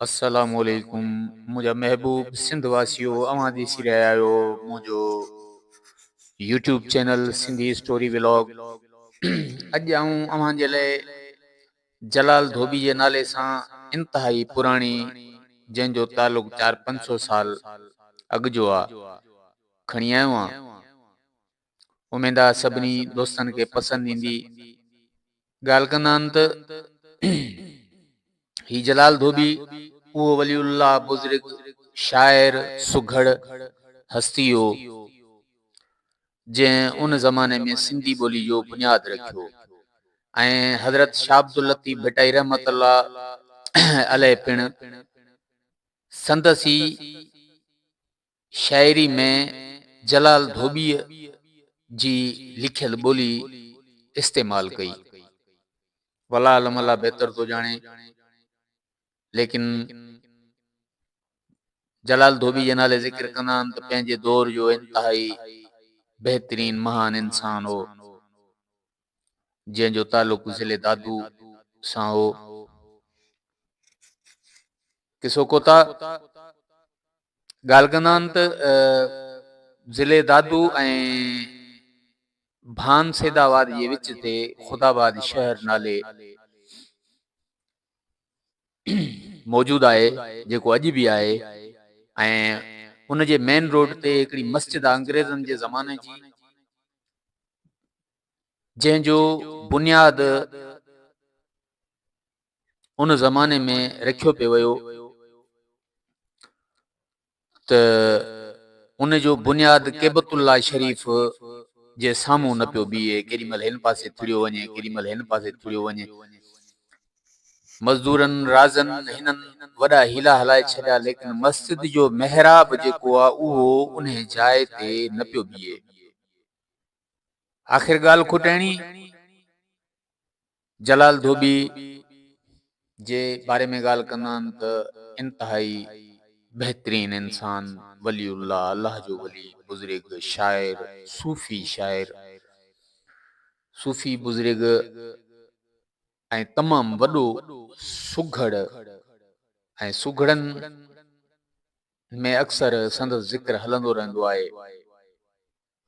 السلام عليڪم منهنجا محبوب سنڌ واسيو اوهان ڏسي رهيا آهيو منهنجو YouTube channel Sindhi story vlog اڄ آئون اوهان جي لاء جلال ڌوٻي جي نالي سان انتهائي پراڻي جنهن جو تعلق چار پنج سو سال اڳ جو آ کڻي آيو آهيان اميد آ سڀني دوستن کي پسند ايندي ڳالهه ڪندا آهن ته هي جلال ڌوٻي اهو ولي الله بزرگ شاعر سگهڙ هستي هو جنهن ان زماني ۾ سنڌي ٻولي جو بنياد رکيو ۽ حضرت شاهه عبداللطيف ڀٽائي رحمت الله عليه پڻ سندس ئي شاعري ۾ جلال ڌوٻيء جي لکيل ٻولي استعمال ڪئي. ولا علم الله بهتر ٿو ڄاڻي، ليڪن جلال ڌوٻي جي نالي ذڪر ڪندا آهن ته پنهنجي دور جو انتهائي بهترين مهان انسان هو. جنهن جو تعلق ضلعي دادو سان هو. قصو ڪوتا ڳالهه ڪندا آهن ته ضلعي دادو ۽ ڀان سيد آباد جي وچ تي خداباد شهر نالي موجود آهي جيڪو اڄ به آهي ۽ ان جي مين روڊ تي هڪڙي مسجد آهي انگريزن جي زماني جي جنهن جو بنياد ان زماني ۾ رکيو پيو ويو ته ان جو بنياد ڪيبت الله شريف جي سامهون نه پيو بيهي ڪيڏي مهل هن پاسي ٿڙيو وڃي ڪيڏي مهل هن پاسي ٿڙيو وڃي مزدورن رازن هنن وڏا هيلا هلائي ڇڏيا ليڪن مسجد جو محراب جيڪو آهي اهو انهي جاء تي نه پيو بيهي آخر ڳالهه کوٽائڻي جلال ڌوٻي جي باري ۾ ڳالهه ڪندان ته انتهائي بهترين انسان، ولي الله، الله جو ولي، بزرگ، شاعر، صوفي شاعر، صوفي بزرگ ۽ تمام وڏو سگهڙ ۽ سگهڙن ۾ اڪثر سندس ذڪر هلندو رهندو آهي.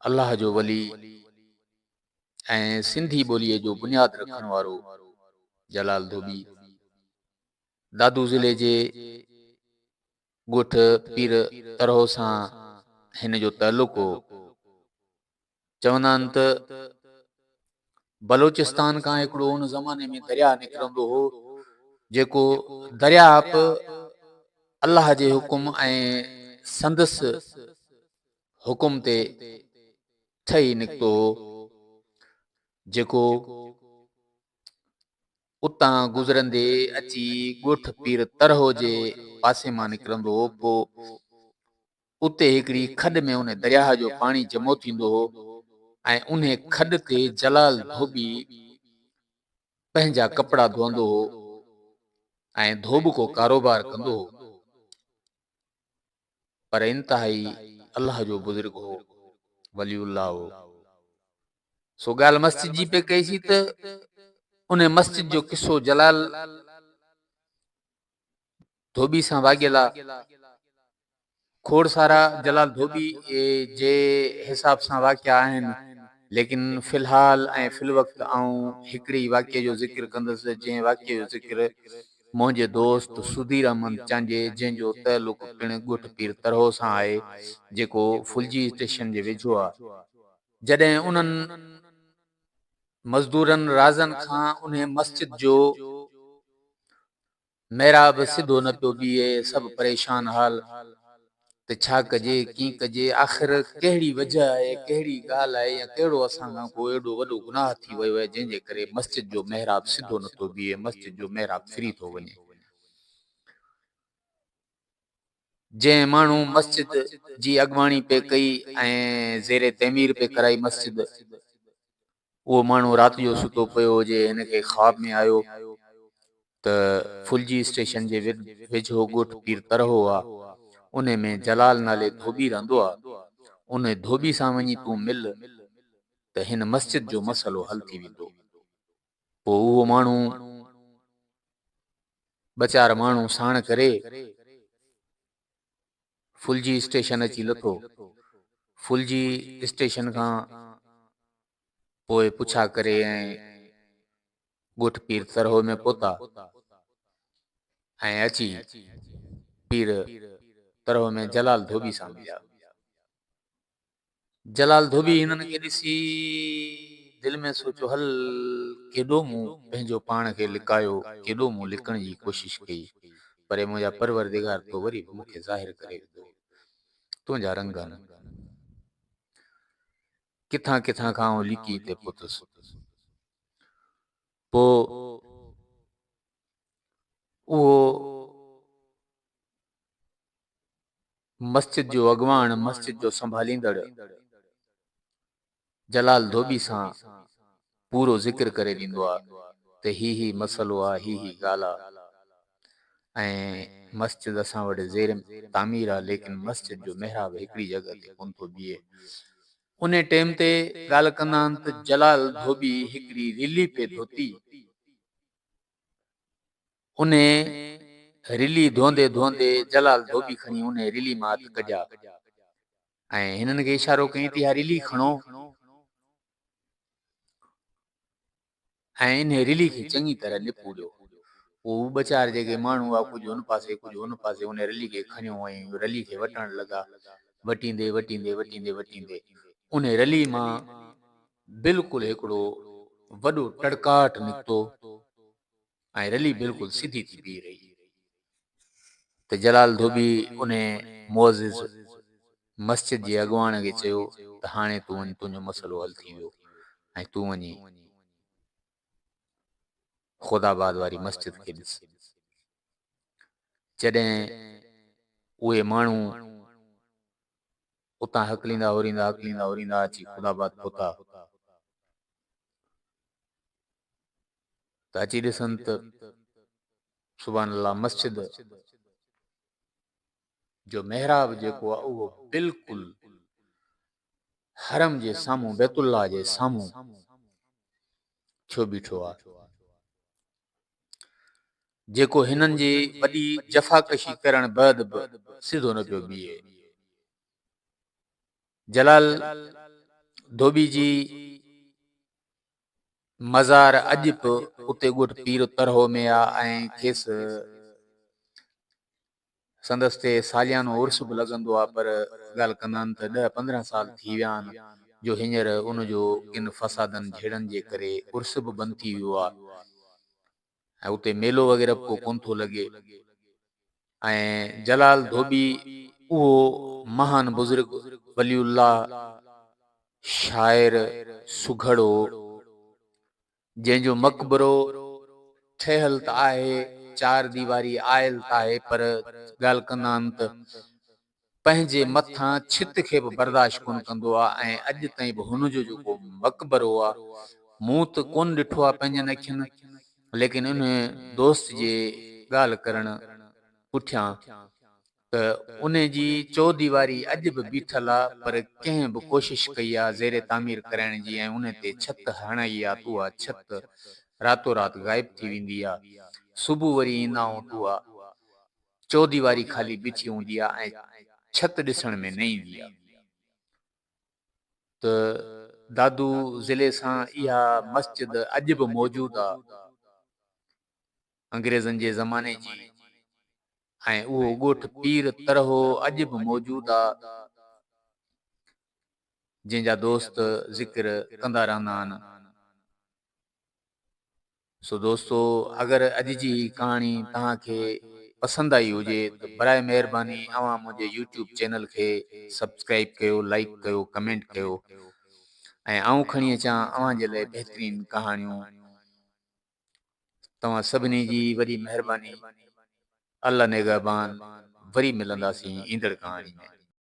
الله جو ولي ۽ سنڌي ٻوليء جو بنياد رکڻ وارو جلال ڌوٻي دادو ضلعي جي ڳوٺ پير ترهو سان هن جو تعلق هو. چوندا آهن ته بلوچستان کان هڪڙو ان زماني ۾ درياهه نڪرندو هو جيڪو درياهه به الله جي حڪم ۽ سندس حڪم تي ٺهي نڪتو هو، جيڪو اتان گذرندي اچي ڳوٺ پير طرحو جي پاسي مان نڪرندو هو، پوء اتي هڪڙي کڏ ۾ ان درياهه جو پاڻي جمعو ٿيندو هو ۽ انهي کڏ تي جلال ڌوٻي پنهنجا ڪپڙا ڌوئندو هو ۽ ڌوٻڪو ڪاروبار ڪندو هو. پر انتهائي الله جو بزرگ هو، ولي الله هو. سو ڳالهه مسجد جي پئي ڪئي سي ته ان مسجد جو قصو جلال ڌوٻي سان واڳيل آ. کوڙ سارا جلال ڌوٻي جي حساب سان واقعا آهن، ليڪن في الحال ۽ في الوقت آئون هڪڙي ئي واقعي جو ذڪر ڪندس، جنهن واقعي جو ذڪر منهنجي دوست سڌير احمد چانجي جنهن جو تعلق پڻ ڳوٺ پير ترهو سان آهي جيڪو ڦلجي اسٽيشن جي ويجهو آهي جڏهن انهن مزدورن رازن کان انهي مسجد جو محراب سڌو نه پيو بيهي سڀ پريشان حال ته ڇا ڪجي، ڪيئن ڪجي، آخر ڪهڙي وجهه آهي، ڪهڙي ڳالهه آهي يا ڪهڙو اسان کان ڪو ايڏو وڏو گناهه ٿي ويو آهي جنهن جي ڪري مسجد جو محراب سڌو نه ٿو بيهي، مسجد جو محراب ڦري ٿو وڃي. جنهن ماڻهو مسجد جي اڳواڻي پئي ڪئي ۽ زير تعمير پئي ڪرائي مسجد، اهو ماڻهو رات جو ستو پيو هجي، هن کي خواب ۾ آيو ته ڦلجي اسٽيشن جي ويجهو ڳوٺ پير ترهو آ، انهي ۾ جلال نالي ڌوٻي رهندو آ، انهي ڌوٻي سان وڃي تون مل ته هن مسجد جو مسئلو حل ٿي ويندو. پوء اهو ماڻهو ٻه چار ماڻهو ساڻ ڪري ڦلجي اسٽيشن اچي لٿو. ڦلجي اسٽيشن کان پوء پڇا ڪري ۽ ڳوٺ پير ترهو ۾ پهتا ۽ اچي پير ترهو ۾ جلال ڌوٻي سان مليا. جلال ڌوٻي هنن کي ڏسي دل ۾ سوچيو هل ڪيڏو مون پنهنجو پاڻ کي لڪايو ڪيڏو مون لڪڻ جي ڪوشش ڪئي پري منهنجا پروردگار تو وري به مون کي ظاهر ڪري وڌو تنهنجا رنگ هن ڪٿان ڪٿان کان آئون لڪي هتي پهتس پو اهو مسجد جو اڳواڻ مسجد جو سنڀاليندڙ جلال ڌوٻي سان پورو ذڪر ڪري ڏيندو آ ته هي هي مسئلو آ هي هي ڳالهه آ ۽ مسجد اسان وٽ زير تعمير آ ليڪن مسجد جو محراب هڪڙي جڳهه تي ڪون ٿو بيهي انهي ٽيم تي ڳالهه ڪندا آن ته جلال ڌوٻي هڪڙي رلي پي ڌوتي انهيء رلي ڌوندي ڌوندي جلال ڌوٻي کڻي انهيء رلي مان هٿ ڪڍيا ۽ هنن کي اشارو ڪيائين ته اها رلي کڻو ۽ انهيء رلي کي چڱي طرح نپوڙيو. پوء هو ٻه چار جيڪي ماڻهو هئا، ڪجهه هن پاسي، ڪجهه هن پاسي، انهيء رلي کي کڻيو ۽ رلي کي وٽڻ لڳا. وٽيندي وٽيندي وٽيندي وٽيندي انهيء رلي مان بلڪل هڪڙو وڏو ٽڙڪاٽ نڪتو. ۽ رلي بلڪل سڌي ٿي بيهي رهي ته جلال ڌوٻي انهي معزز مسجد جي اڳواڻ کي چيو ته هاڻي تون وڃ تنهنجو مسئلو حل ٿي ويو ۽ تون وڃي خودآباد واري مسجد کي ڏس. جڏهن اهي ماڻهو اتان هڪليندا هوريندا هڪليندا هوريندا اچي خودآباد پهتا ته اچي ڏسن ته سبحان الله مسجد جو محراب جيڪو آهي اهو بلڪل حرم جي سامهون بيت الله جي سامهون ٿيو بيٺو آ جيڪو هنن جي وڏي جفاڪشي ڪرڻ بعد به سڌو نه پيو بيهي جلال ڌوٻي جي مزار اڄ به اتي ڳوٺ پير ترهو ۾ آ ۽ کيس سندس تي ساليانو عرس به لڳندو آ پر ڳالهه ڪندان ته ڏهه پندرهن سال ٿي ويا آهن جو هينئر ان جو ڪن فسادن جهيڙن جي ڪري عرس به بند ٿي ويو آ. ۽ اتي ميلو وغيره به ڪو ڪونه ٿو لڳي ۽ جلال ڌوٻي اهو مهان بزرگ ولي الله شاعر سگهڙو جنهن جو مقبرو ٺهيل ته آهي چار ديواري آيل ته آهي پر ڳالهه ڪندان ته پنهنجي مٿان ڇت کي به برداشت ڪونه ڪندو آ ۽ اڄ تائين به هن جو جيڪو مقبرو آ مون ته ڪونه ڏٺو آ پنهنجن اکين ليڪن انهي دوست جي ڳالهه ڪرڻ پٺيان ته انهي جي چوديواري اڄ به بيٺل آ پر ڪنهن به ڪوشش ڪئي آ زير تعمير ڪرائڻ جي ۽ انهي تي ڇت هڻائي آ ته اها ڇت راتو رات غائب ٿي ويندي آ صبح وري ايندا آهون ته اها چوديواري خالي بيٺي هوندي آ ۽ ڇت ڏسڻ ۾ نه ايندي آ ته دادو ضلعي سان اها مسجد اڄ به موجود آ انگريزن جي زماني جي ۽ اهو ڳوٺ پير ترهو اڄ به موجود آ جنهن جا دوست ذڪر ڪندا رهندا آن. سو دوستو اگر اڄ جي هي ڪهاڻي توهان کي پسند آئي هجي ته براء مهرباني اوهان منهنجي يوٽيوب چينل کي سبسڪرائيب ڪيو لائيڪ ڪيو ڪمينٽ ڪيو ۽ آئون کڻي اچان اوهان جي لاء بهترين ڪهاڻيون توهان سڀني جي وڏي مهرباني الله نگهبان وري ملنداسين ايندڙ ڪهاڻي ۾.